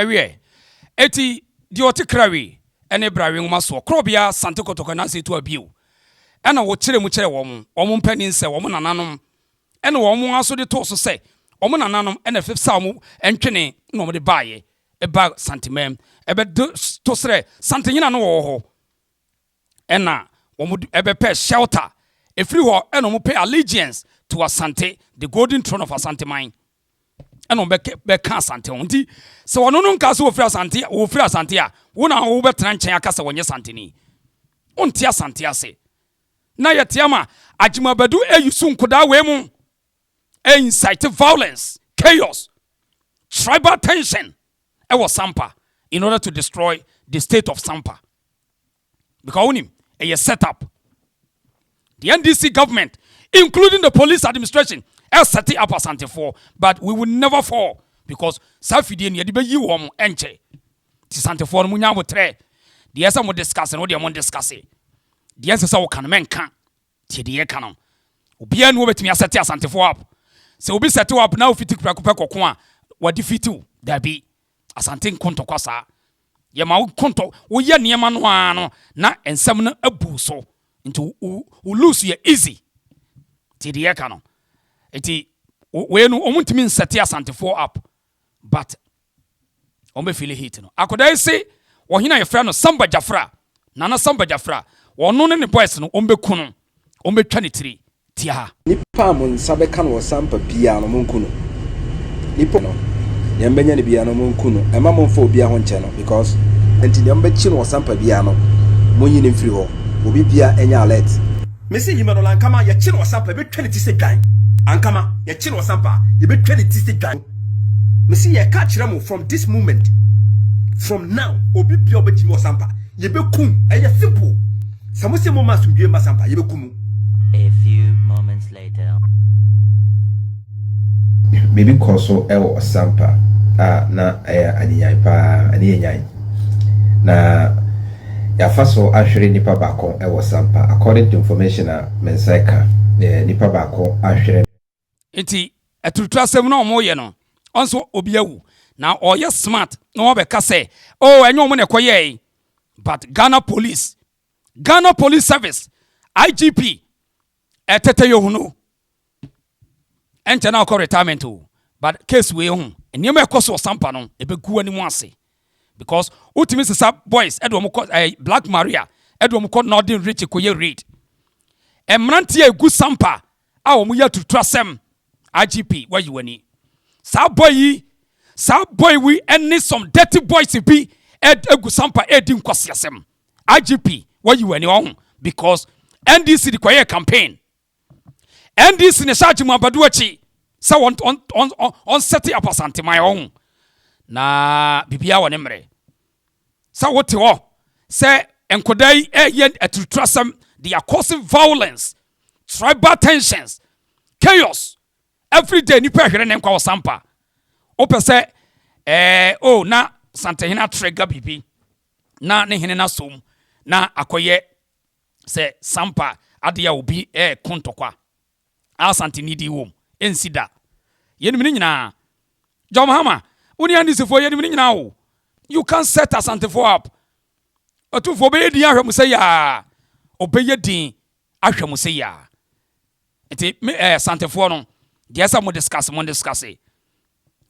Ɛwiɛ, eti deɛ ɔte krawi ne brawi nwoma soɔ korɔ biara sante kɔtɔkɔ nanso etu abio. Ɛna wɔkyerɛ mu kyerɛ wɔn, wɔn mpanin sɛ wɔn nananom ne wɔn ara nso de too so sɛ wɔn nananom na ɛfesa wɔn ntwene na wɔde baeɛ baa Santeman bɛto srɛ Santenyina no wɔ hɔ. ɛna wɔn de ɛbɛpɛ shelter. Ɛfiri hɔ ɛna wɔn pɛ allegiance to Asante, the golden throne of Asante man. Ɛna wɔn bɛka Asante ho. Nti sɛ wɔn no nka sɛ wɔfiri Asante, wɔfiri Asante a, wɔn na wɔbɛtena nkyɛn aka sɛ wɔnyɛ Santeni. Wɔnte Asante ase. Na yɛte ama Agyemabadu eyi so nkodaa wei mu. incite violence, chaos, tribal tension ɛwɔ Sampa in order to destroy the state of Sampa. Because wonim, ɛyɛ set up. The NDC government, including the police administration, ɛsɛte up Asantefoɔ but we will never fall because saa fidie no yɛde bɛyi wɔn ɛnkyɛ. Ti Santefoɔ no mo nya abotrɛ. Deɛ ɛsɛ mo discuss no deɛ mo discuss. Deɛ ɛnsɛ sɛ woka no mɛnka. Tie deɛ yɛka no. Obiara nni hɔ bɛtumi asɛte Asantefoɔ app. Sɛ obi sɛte w'app na wofiti prɛko pɛ kɔko a, wadifiti wo. Dabi. Asante nko ntɔkwa saa. Yɛma wo kontɔ, woyɛ nneɛma no ara no na nsɛm no abu wo so. Nti wo wo lose yɛ easy. Tie deɛ yɛka no. Nti wei no wɔntumi nsɛte Asantefoɔ app but ɔmbɛ fili heat no akoda yi se ɔhene a yɛfrɛ no samba jafra nana samba jafra ɔno ne ne boys no ɔmbɛ ku no ɔmbɛ twa ne tiri tiaa. Nipa a mo nsa bɛka no wɔ sampa biaa no monku no nipa no deɛ mbɛnya no biaa no monku no ɛma monfa obia ho nkyɛ no because. Nti deɛ ɔmbɛ kyi no wɔ sampa biaa no monyi no mfiri hɔ obi bia ɛnyɛ alert. Me se yima no la ankama yɛkye no wɔ sampa yɛbɛtwa ne ti sɛ dwan ankama yɛkye no wɔ sampa yɛbɛtwa ne ti sɛ dwan. Mese yɛ ka kyerɛ mo from this moment from now obi bia ɔbɛtumi wɔ sampa yɛbɛkum ɛyɛ simple sɛ mo se mo ma asomdwie mma sampa yɛbɛkum mo. A few moments later. Biribi kɔɔ so wɔ Ɔsampa a na ɛyɛ anyenyan paa, ɛne yɛ nyan. Na yɛafa so ahwere nipa baako wɔ Ɔsampa according to information a me nsa ɛka, nipa baako ahwere. nti aturutura asɛm na wɔn yɛ no ɔnso obi awu na ɔyɛ smart na wɔn abɛka sɛ oh ɛnyɛ wɔn na ɛkɔ yɛɛ but ghana police ghana police service igp ɛtɛtɛ yɛ ohunu ɛnkyɛ na ɔkɔ retirement o but case wei ho nneɛma ɛkɔ so ɔsampa no ɛbɛgu anim ase because wotumi sesa boys ɛde wɔn kɔ ɛɛ black maria ɛde wɔn kɔ northern rich kɔ yɛ raid mmeranteɛ egu sampa. a wɔn yɛ aturutu asɛm IGP wayi wani saa boy yi saa boy wi ɛne some dirty boys bi ɛgu sampa ɛdi nkwasi asɛm IGP wayi wani ɔho because NDC de kɔyɛ campaign NDC ne hyɛ agye mu abadu akyi sɛ wɔn wɔn wɔn wɔn sɛte apasanteman ɔho na biribiara wɔ ne mmerɛ. sɛ wote hɔ sɛ nkɔdaa yi ɛyɛ aturutu asɛm they are causing violence tribal tensions chaos every day nipa ɛhwere ne nkwa wɔ sampa wopɛ sɛ ɛɛ o na santehene atrɛga biribi na ne hene no asom na akɔyɛ sɛ sampa adeɛ a obi ɛɛko ntɔkwa a Asante nidi wom nsi da. Yɛnim ne nyinaa. John Mahama, wo ne NDC foɔ yɛnim ne nyinaa o. You can set Asante foɔ up. Atumfoɔ ɔbɛyɛ din ahwɛ mo sɛ yaa. Ɔbɛyɛ din ahwɛ mo sɛ yaa. Nti me eh, Asantefoɔ no, deɛ sɛ mo discuss mo discuss.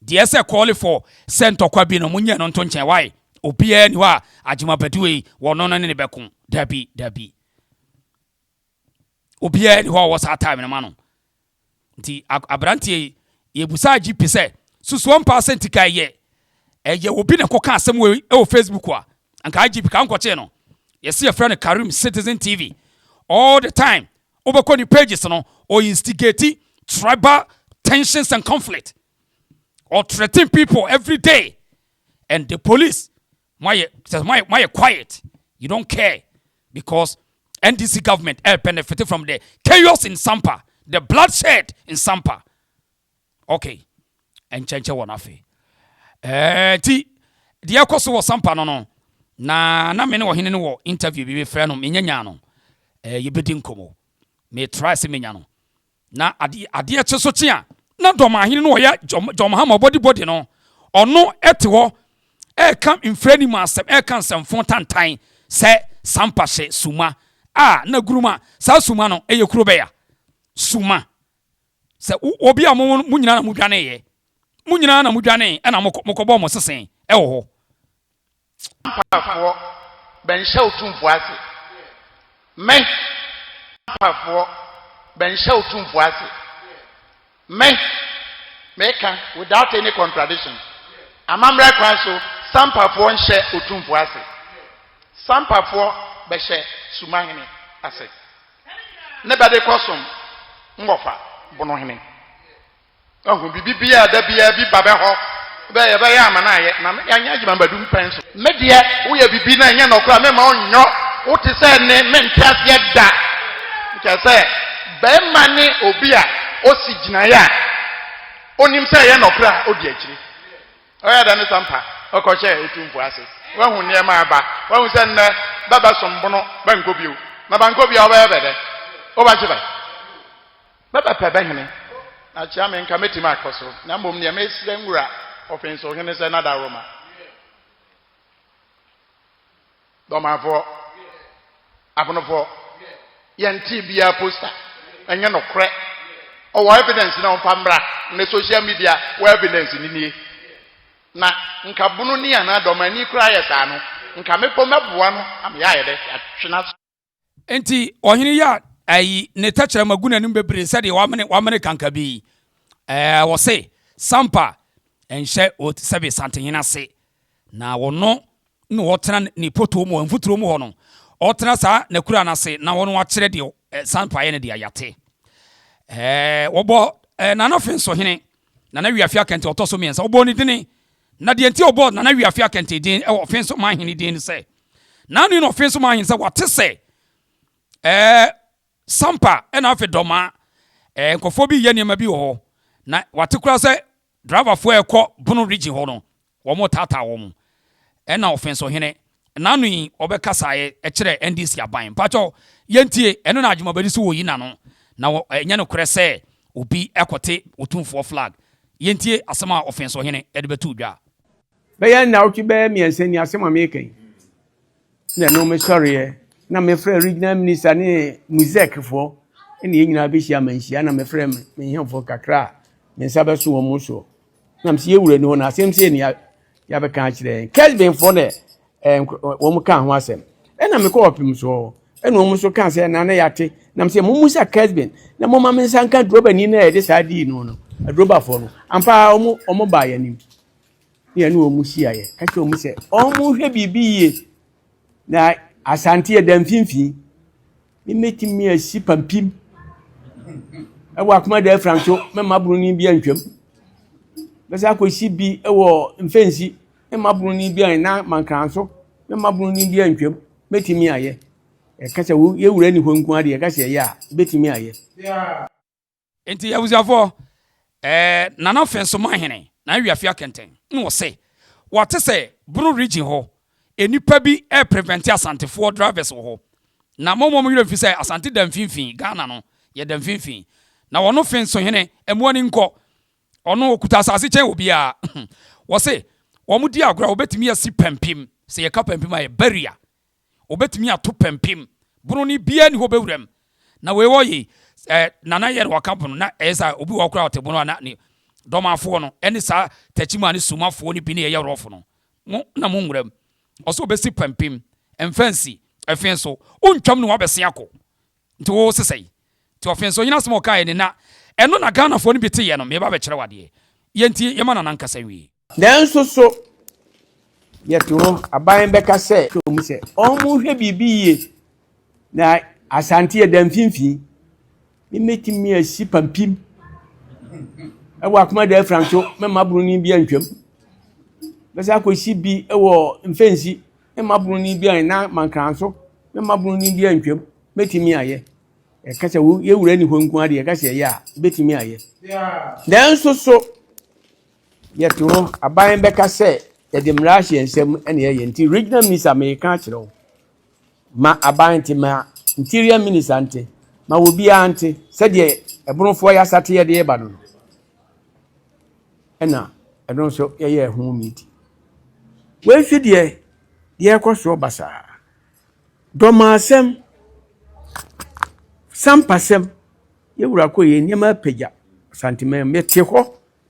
Deɛ sɛ call for sɛ ntɔkwa bi no mo nyɛ no nto nkyɛn why? Obiara ni hɔ a Agyima Badue yi wɔno no ne ne bɛko. Dabi, dabi. obiara ni hɔ a ɔwɔ saa time no ma no nti aberanteɛ yi yɛbusaa gp sɛ susuo mpa sɛ nti ka ɛyɛ ɛyɛ obi na ɛkɔka asɛm wɔ ɛwɔ facebook a anka gp ka nkɔkyee no yɛsi yɛfrɛ no karim citizen tv all the time wobɛkɔ ne pages no ɔ instigate tribal tensions and conflict or threaten people every day and the police Moayɛ kyɛ sɛ moayɛ moayɛ quiet you don't care because NDC government ɛɛ benefit from the chaos in Sampa the bloodshed in Sampa okay ɛnkyɛnkyɛ wɔn afei ɛɛ ti deɛ ɛkɔ so wɔ Sampa no no na na me ne ɔhene no wɔ interview bi mefrɛ no menyanya no ɛɛ yɛbɛdi nkɔmɔ me try sɛ menya no Na ade adeɛ kye so kye a, na dɔmahene no ɔyɛ dɔmahama ɔbɔdibɔdi no, ɔno te hɔ ɛreka mfrani mu asɛm, ɛreka nsɛmfo tantan sɛ sampa hyɛ suma a na guruma saa suma no ɛyɛ kuro bɛya suma sɛ obi a mo mo nyinaa na mo dwaneeɛ mo nyinaa na mo dwanee ɛna mokɔbɔɔ mo sesen ɛwɔ hɔ Mpafoɔ, bɛnhyɛ Otumfoɔ ase. Me. Mpafoɔ, bɛnhyɛ Otumfoɔ ase. Me. Meka, without any contradiction, amammerɛ kwan so, sa Mpafoɔ nhyɛ Otumfoɔ ase. Sa Mpafoɔ bɛhyɛ Sumahene ase. Ne bɛde kɔsom Ngɔfa Bonohene. Wahu biribi biara a da biara bi ba bɛhɔ bɛ yɛbɛyɛ ama no ayɛ na yɛanyɛ adwuma bɛdum pɛn so. Me deɛ woyɛ biribi na ɛnyɛ nɔkorɛ a memma ɔnyɔ wo te sɛ ne mente aseɛ da. Kyerɛ sɛ bɛrima ne obi a ɔsi gyinaeɛ a ɔnim sɛ ɛyɛ nɔkorɛ a ɔdi akyiri. Ɔyɛ dɛ ne sampa ɔkɔhyɛ otumfoɔ ase. Wahu nneɛma aba. Wahu sɛ nnɛ bɛbɛsom bono bɛnkɔ bio. Na bankɔ bio a wobɛyɛ bɛ dɛ. Wobɛgye bɛ. Me pɛpɛ bɛhene, na kyea me nka mɛtumi akɔ so, na mmom neɛ mesrɛ nwura ɔfenso hene sɛ na dawroma dɔmafoɔ abonofoɔ yɛntee biara poster ɛnyɛ nokorɛ ɔwɔ evidence na ɔmfa mmra ne social media wɔ evidence ne nie na nka bono ni anaa dɔmani koraa yɛ saa no nka mepɔ mɛboa no ameyɛ ayɛ dɛ atwena Enti ɔhene yi a ayi ne tɛkyerɛma gu n'anim bebree sɛdeɛ wamene wamene kanka bi yi, ɛɛ wɔse sampa nhyɛ sɛbe santehene ase na wɔno na ɔtena ne potoo mu mfuturo mu hɔ no ɔtena saa na kura no ase na wɔno akyerɛ deɛ ɛɛ sampa yɛ no deɛ yate ɛɛ wɔbɔ ɛɛ nana fenso hene nana wiafia kɛntɛ ɔtɔ so mmiɛnsa wɔbɔ ne dini Na deɛ nti a wɔbɔɔ Nana Wia Afia Kente din wɔ Ɔfe Nso Manhene din ne sɛ, n'ano yi na Ɔfe Nso Manhene sɛ wɔte sɛ ɛɛ Sampa ɛna afe Dɔmaa ɛɛ nkurɔfoɔ bi reyɛ nneɛma bi wɔ hɔ na wɔate koraa sɛ driverfoɔ a ɛkɔ Bono Region hɔ no wɔretaataa wɔn ɛna Ɔfe Nso Hene N'ano yi ɔbɛkasaeɛ kyerɛɛ NDC aban. Mpakyɛw yɛntie, ɛno na Adwumabadi so ɔyi n'ano na ɛnyɛ nokorɛ sɛ obi kɔte Otumfoɔ flag. Yɛntie asɛm a Ɔfensohene de bɛtoo dwa. Bɛyɛ nnawɔtwe bɛyɛ mmiɛnsa ni asɛm a mereka yi na ɛno mesɔreɛ na mefrɛɛ Regional Minister ne Muzec foɔ ɛna yɛn nyinaa bɛhyia amanhyia ɛna mefrɛɛ me nhemfoɔ kakra a me nsa bɛso wɔn soɔ nam sɛ yɛwura ni hɔ no asɛm sɛ ni yɛabɛka akyerɛ yɛn kɛsbenfoɔ na wɔn ka ho asɛm ɛna mekɔ ɔpem soɔ ɛna wɔn nso ka sɛ na na yɛate nam sɛ momu sa kɛsben na moma me nsa nka durobani no a yɛde saa dii no no adurobafoɔ no ampa wɔn wɔn baa yɛn anim ne yɛne wɔn hyiaeɛ ka kyerɛ wɔn sɛ wɔn hwɛ biribi yie Na Asante yɛ da mfimfini. Mɛtumi asi pampim wɔ akoma da afira nso mɛma buroni bi antwam. Bɛsɛ akɔsi bi wɔ mfɛnsi mɛma buroni bi an na mankra nso mɛma buroni bi antwam. Mɛtumi ayɛ. Ɛka sɛ yɛwura ni hɔ nko adeɛ ɛka sɛ ɛyɛ a bɛtumi ayɛ. Enti abusuafoɔ, ɛɛ Nana Fɛnsoma Hene, Nana Wiafi Akɛntɛn, na ɔse wate sɛ Bono Region hɔ nnipa bi reprevente Asantefoɔ drivers wɔ hɔ, na mommɔ mo werɛ mfi sɛ Asante da mfimfini, Ghana no yɛda mfimfini, na ɔno Fenso Hene, ɛmmoa ani nkɔ, ɔno ɔkuta asase kyɛn obiara. Wɔse wɔn di agorɔ a wɔbɛtumi asi pampim, sɛ yɛka pampim a ɛyɛ barrier, obetumi ato pampim. Bono no biaa nni hɔ bɛwura mu. Na wei wɔ yei, sɛ Nana yɛ na wɔka bono na ɛyɛ sɛ obi wɔ hɔ koraa ɔte bono a na ne dɔmafoɔ no ɛne saa takyimaa ne sumafoɔ no bi ne ɛyɛ rɔfo no. Mo na mo nwura mu. Ɔsɛ obɛsi pampim. Mfa nsi. Ɛfee so. Wontwam ne wabɛse akɔ. Nti wo se sɛn? Nti ɔfe nso ɔnyini asem a ɔkaeɛ no na ɛno na Ghanafoɔ no bi teeɛ no meba abɛkyerɛ wo adeɛ. Yɛntie, yɛma Nana nkasa nwie. Nanso so yɛte hɔ? Aban bɛka sɛ. Kyerɛ wɔn sɛ wɔnhwɛ biribi yie na Asante ɛda mfimfini. Mɛtumi asi pampim wɔ Akomada Afranso, mɛmma Buroni bi antwam. Mɛsan akɔsi bi wɔ Mfɛnsi. Me mma bunu ni bi a na mankranso me mma bunu ni bi a ntwam mɛtumi ayɛ ɛka sɛ yɛwura ni hɔ nko adeɛ ɛka sɛ ɛyɛ a bɛtumi ayɛ nanso so yɛte hɔ aban bɛka sɛ yɛde mmara ahyɛ nsɛm ɛne ɛyɛ nti regional minister meka akyerɛ wo ma aban nti ma interior minister nti ma obiara nti sɛdeɛ ɛbonofoɔ yɛ asateɛ deɛ ɛba no no na ɛno nso yɛyɛɛ ho meeting. Wei nso deɛ, deɛ ɛrekɔ soɔ basaa. Dɔmasɛm, sampasɛm, yɛn wura kɔ yɛ nneɛma apagya Asanteman mu. Mete hɔ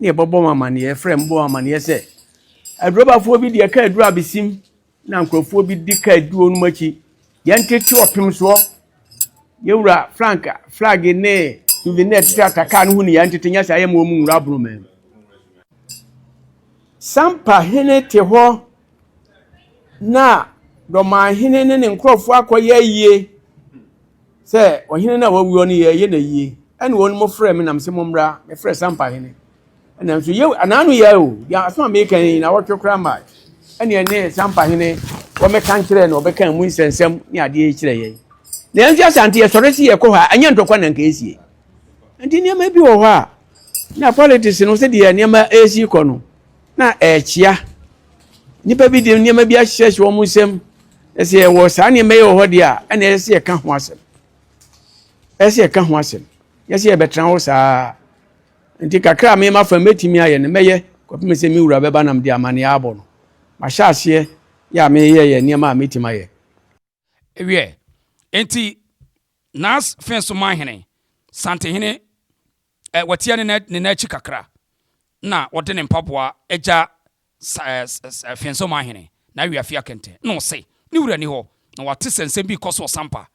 na yɛbɛbɔ wɔn amaneɛ, yɛfrɛ me bɔ wɔn amaneɛ sɛ, adurɔbafoɔ bi deɛ ɛka aduru abesim. na nkurɔfoɔ bi di kaa duo no mu akyi yɛntete ɔpem soɔ yɛwura frank flag ne souvenir tete ata kaa no ho ni yɛntete nyɛ saa yɛma wɔn nwura abono mɛm sampa hene te hɔ na dɔman hene ne ne nkurɔfoɔ akɔyɛ ayie sɛ ɔhene no a wawuo no yɛyɛ no ayie ɛne wɔn mo frɛ me nam sɛ mommra mefrɛ sampa hene ɛna nso yɛ anaano yɛ o yɛ aso a meka yi na wɔtwe koraa ma ɛne ɛne sampa hene wɔmɛka nkyerɛ na wɔbɛka mu nsɛnsɛm ne adeɛ kyerɛ yɛn na yɛn nso asante yɛsɔre si yɛkɔ hɔ a ɛnyɛ ntɔkwa na nka ɛsie nti nneɛma bi wɔ hɔ a na politics no sɛdeɛ nneɛma ɛresi kɔ no na ɛrekyea nnipa bi de nneɛma bi ahyehyɛ wɔn nsam na sɛ yɛwɔ saa nneɛma yi wɔ hɔ deɛ a ɛna ɛsɛ yɛka ho asɛm ɛsɛ yɛka ho asɛm yɛsɛ yɛbɛtena hɔ saa Enti kakra a me mafa no, mɛtumi ayɛ no, mɛyɛ kɔpem sɛ me Wura bɛba na mede amanneɛ abɔ no. Mahyɛ aseɛ yɛ a meyɛ yɛ nneɛma a mɛtumi ayɛ. Wiɛ, enti Nas fee so maa hene, Santehene, ɛ, wɔteɛ ne nan, ne nan akyi kakra, na wɔde ne mpaboa gya Sa-sa-sa afiansa mu ahene, na awi afi akɛntɛn. Na ɔse, Ne wura nni hɔ. Na wate sɛ nsɛm bi rekɔ so wɔ Sampa.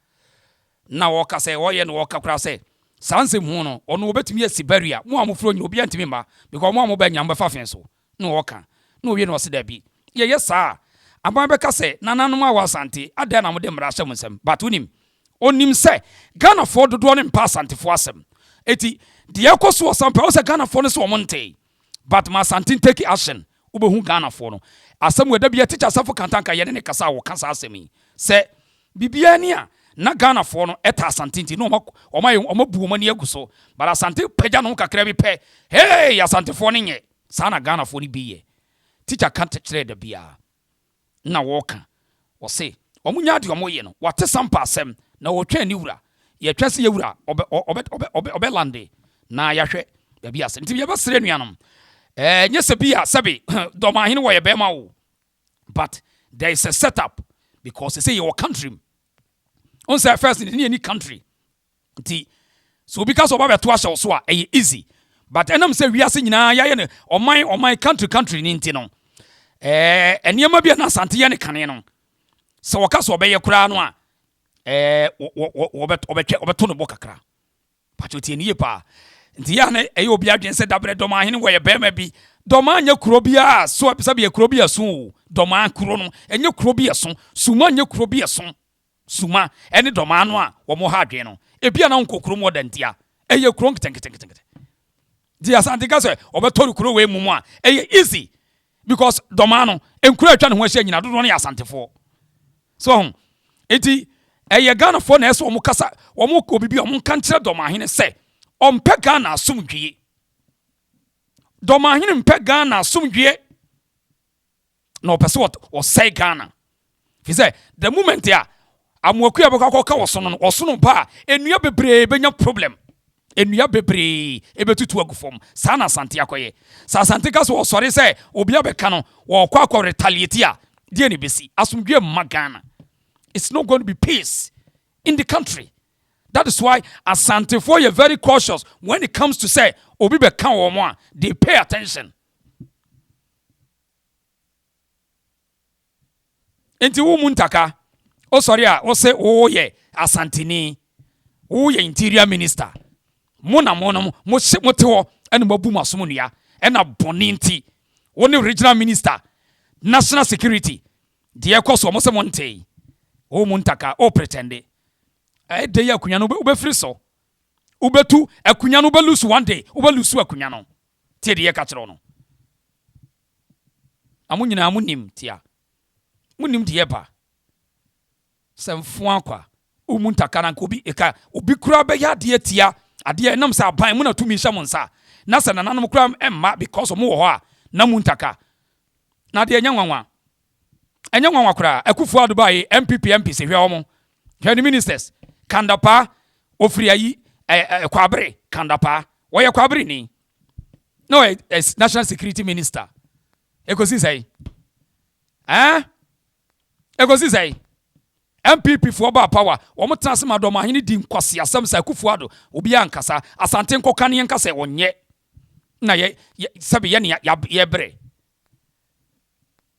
Na wɔka sɛ, wɔyɛ na wɔka koraa sɛ, saa nsɛm hunu no, ɔno wɔbɛtumi asi barrier, mo a mofiri ɔnyina, obiara ntumi mma, because mo a moba nyina mobɛfa afee so. Na wɔka. Na ɔwie na ɔse, Dabi. Yɛyɛ saa a, aban bɛka sɛ, Nananom a wɔ Asante, adɛn na mode mmara ahyɛ mo nsam? But wonim. Ɔnim sɛ, Ghanafoɔ dodoɔ no mpa Asantefoɔ asɛm. Enti, deɛ ɛrekɔ so wɔ Sampa, ɔhu sɛ Ghanafoɔ no se wɔn ntee. but ma Asante take action wobɛhu Ghana foɔ no asɛm wei da biaa Teacher Asafo Kanta anka yɛne no kasa a wɔka saa asɛm yi sɛ biribiaa ni a na Ghana foɔ no ta Asante nti na wɔn abu wɔn ani agu so but Asante pagya ne ho kakra bi pɛ hee Asante foɔ no nyɛ saa na Ghana foɔ no bi yɛ Teacher ka kyerɛɛ da biaa na wɔka, wɔse wɔnya deɛ wɔyɛ no, wɔate Sampa asɛm na wɔtwɛn ne wura, yɛtwɛn sɛ yɛn wura ɔbɛ lande na yɛahwɛ baabi asɛm, nti yɛbɛsrɛ anuanom, eh, nyɛ sɛ bi a sɛbe Dɔmanhene wɔyɛ bɛrima o, but there is a set up because sɛ yɛwɔ country mu, ɔn sɛ first ne yɛni country, Nti sɛ obi ka sɛ ɔba bɛto ahyɛ wo so a, ɛyɛ easy. But ɛnam sɛ wiase nyinaa yɛayɛ no ɔman ɔman, country country no nti no, ɛɛ nneɛma bi a na Asante yɛ no kane no, sɛ wɔka sɛ ɔbɛyɛ koraa no a, ɛɛ wɔbɛtwɛ wɔbɛto no bɔ kakra. Pakyɛ otie ne yie paa. Nti yɛ a na ɛyɛ obi adwene sɛ dabrɛ dɔm ahene wɔyɛ bɛrima bi. Dɔm anyɛ kuro biara so sɛbi yɛ kuro bi ɛso o. Dɔm kuro no ɛnyɛ kuro bi ɛso. Suma nyɛ kuro bi ɛso. suma ne dɔmaa no a wɔn ha adwene no, ebia na wɔnkɔ kurom hɔ da ntia, ɛyɛ kuro nketenketenkete. Nti Asante ka sɛ wɔbɛtɔre kuro wei mu mu a, ɛyɛ easy because dɔmaa no, nkuro a atwa ne ho ahyia nyina dodoɔ no yɛ Asantefoɔ. So ho, nti ɛyɛ Ghanafoɔ na ɛsɛ wɔn kasa, wɔn kɔ bibi a wɔn nka nkyerɛ dɔmaahene sɛ ɔmpɛ Ghana asomdwie. Dɔmaahene mpɛ Ghana asomdwie. na ɔpɛ sɛ ɔsɛe Ghana fi sɛ the moment a amoaku a bɛkɔ akɔka wɔ so no ɔsono ba a nnua bebree bɛnya problem nnua bebree ɛbɛtutu agu fam saa na asante akɔyɛ sɛ asante ka sɛ ɔsɔre sɛ obi abɛka no wɔkɔ akɔ retaliate a deɛ ne bɛsi asomdwe mma Ghana it's not going to be peace in the country that is why asantefoɔ yɛ very cautious when it comes to sɛ obi bɛka wɔn a they pay attention Nti wo mu ntaka wo sɔre a wo se wo yɛ asanteni wo yɛ interior minister mo na mo nom mo se mo te hɔ ɛna mo abu mo asom nua ɛna bɔne nti wo ne regional minister national security deɛ ɛkɔ so mo se mo ntee wo mu ntaka wo pretende ɛyɛ dɛ yi akonya no wobɛfiri so wobɛtu akonya no wobɛlusu one day wobɛlusu akonya no Tie deɛ yɛka kyerɛ wo no. Na mo nyinaa monim tia. Monim deɛ ɛba sɛ mfoa kwa. Womu ntaka na nka obi ɛka obi koraa bɛyɛ adeɛ tia adeɛ ɛnam sɛ aban mo na tumi hyɛ mo nsa na sɛ nananom koraa ɛmma because ɔmo wɔ hɔ a na mu ntaka na adeɛ nyɛ nwanwa Ɛnyɛ nwanwa koraa, Akufo Addo bae, NPP MPs hwɛ wɔn, hwɛ ne ministers, Kandapaa, ofiri ayi, ɛ, ɛ, Kwabere Kandapaa, wɔyɛ Kwabere ni, na ɔyɛ ɛ, National Security Minister. Ekosi sɛe? Ɛɛ? Ekosi sɛe? NPP foɔ baa power, wɔn tena ase ma Dɔmahene di nkwaseasɛm sɛ Akufo Addo, obiara nkasa, Asante nkɔka ne nka sɛ ɔnyɛ, na yɛ, yɛ, sɛbe yɛ ne yɛ, yɛbrɛ.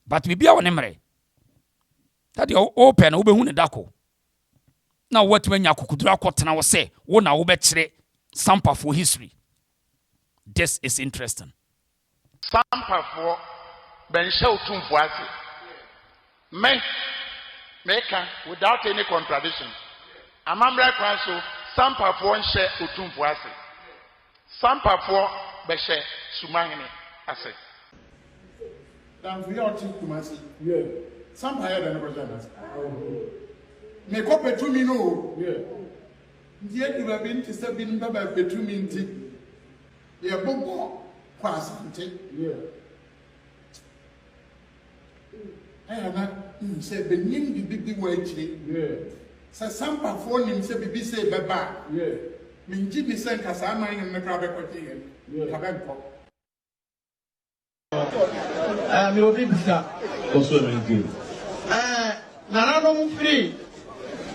but biribiara wɔ ne mmerɛ na deɛ wopɛ no wobɛhu ne da ko na woatumi anya akokoduro akɔtena hɔ sɛ wo na wobɛkyerɛ sampafoɔ history this is interesting sampafoɔ bɛnhyɛ wo tumfoɔ ase me meka without any contradiction amammerɛ kwan so sampafoɔ nhyɛ otumfoɔ ase Sampafoɔ bɛhyɛ Sumahene ase. Danfo yi a ɔte Kumasi Sampa yɛ dɛn no bɛhyɛ no ase. Mekɔ pɛ tumi no o. Nti ɛdu baabi no te sɛ binom bɛba pɛ tumi nti yɛbobɔ kɔ Asante. Ɛyɛ a na minim sɛ benyim biribi bi wɔ ekyir. Sɛ Sampafoɔ nim sɛ biribi sei bɛba a, menngye nni sɛ nka saa aman nom no koraa bɛkɔgye hɛn. Nka bɛnnkɔ. Ɛɛ, mewɔ biribisaa. Ɔsɔ me nti. Ɛɛ, nananom firi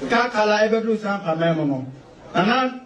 Kaakala ɛbɛduru Sampaman mu no, nana.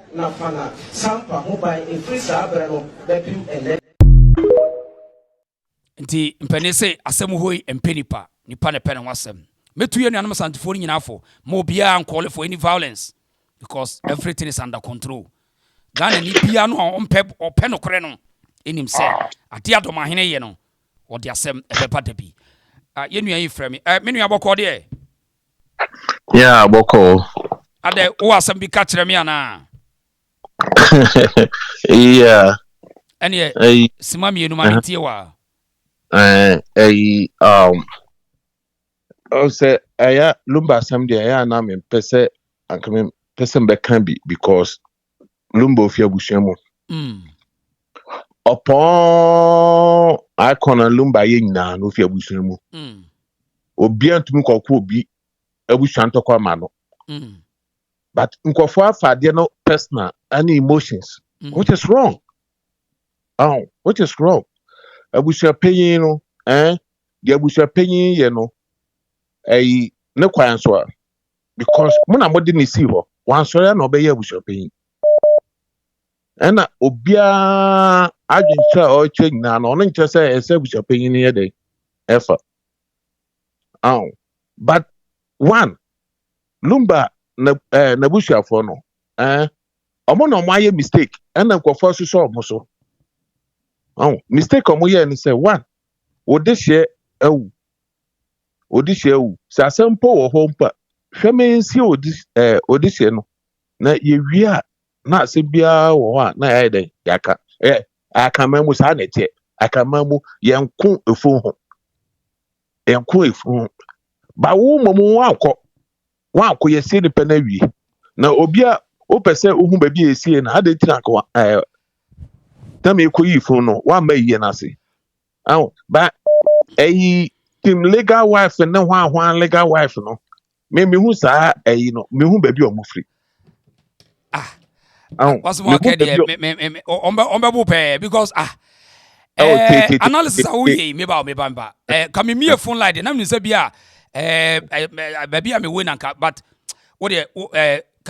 na Fana Sampa ho ban firi saa berɛ no bɛpem ɛnnɛ. Nti mpanin se asɛm hoi mpɛ nipa, nipa na ɛpɛ ne ho asɛm. Mɛtu yɛn nuanom Asantefoɔ no nyinaa fo, ma obiara nkɔɔle for any violence because everything is under control. Ghanani biara no a ɔmpɛ ɔpɛ nokorɛ no nim sɛ adeɛ a Dɔmahene yɛ no ɔde asɛm ɛbɛba da bi. Ah, yɛn nua yi frɛ me. Eh, me nua bɔkɔɔ deɛ. Yeah, bɔkɔɔ. Adɛ, wowɔ asɛm bi ka kyerɛ me anaa? Yeah. Ɛneɛ, Ɛyi, sima mmienu ma ɛhɛ, mentie wa. ɛɛ, ɛyi, um, ɔn sɛ ɛyɛ lumba asɛm deɛ ɛyɛ a na mempɛ sɛ anka mempɛ sɛ mebɛka bi because Lumba ofi abusua mu. Mm. Ɔpɔn icon na Lumba yɛ nyinaa na ofi abusua mu. Mm. Obi antumi kɔkɔ obi abusua ntɔkwa ma no. Mm. But nkɔfo afa adeɛ no personal any emotions mm. which is wrong. Oh, which is wrong. Abusua panyin no, eh, deɛ abusua panyin yɛ no, ɛyi ne kwan so a. because mo na mode ne sii hɔ wansɔre a na ɔbɛyɛ abusuapanyin ɛna obiara adwenkyerɛ a ɔrekyerɛ nyinaa na ɔno nkyerɛ sɛ ɛsɛ abusuapanyin no yɛ dɛn ɛfa aw but one lumba na ɛɛ n'abusuafoɔ no ɛɛ ɔmo na ɔmo ayɛ mistake ɛna nkurɔfoɔ asosɔ ɔmo so aw mistake ɔmo yɛ ne sɛ one wode hyɛ awu Odysseus wu. Sɛ asɛm mpo wɔ hɔ mpo a, hwɛ mensie Odysseus no na yɛwie a, na asɛm biara wɔ hɔ a na yɛayɛ dɛn yɛaka. Ɛ akaman mu saa na ɛteɛ. Akaman mu yɛnko efunu ho. Yɛnko efunu ho. Ba wo mmom woankɔ. Woankɔ yɛsie nipa no awie. Na obi a wopɛ sɛ wohu baabi a yɛsie no, adɛn nti na anka na mekɔyii funu no, woamma ayie no ase. Aw ba ɛyi team legal wife ne hwan hwan legal wife no me me hu saa ɛyi no me hu baabi a wɔn firi. ah aw wɔsɔ wɔn akɛ deɛ me me me wɔn bɛ wɔn bɛ bo pɛɛ because ah. ɛɛ eh, eh, analysis a woyɛ yi meba meba meba ɛɛ eh, ka me mie phone line de na mi nsɛ bi a ɛɛ ɛɛ baabi a mi wo nanka but wo deɛ wo ɛɛ ka.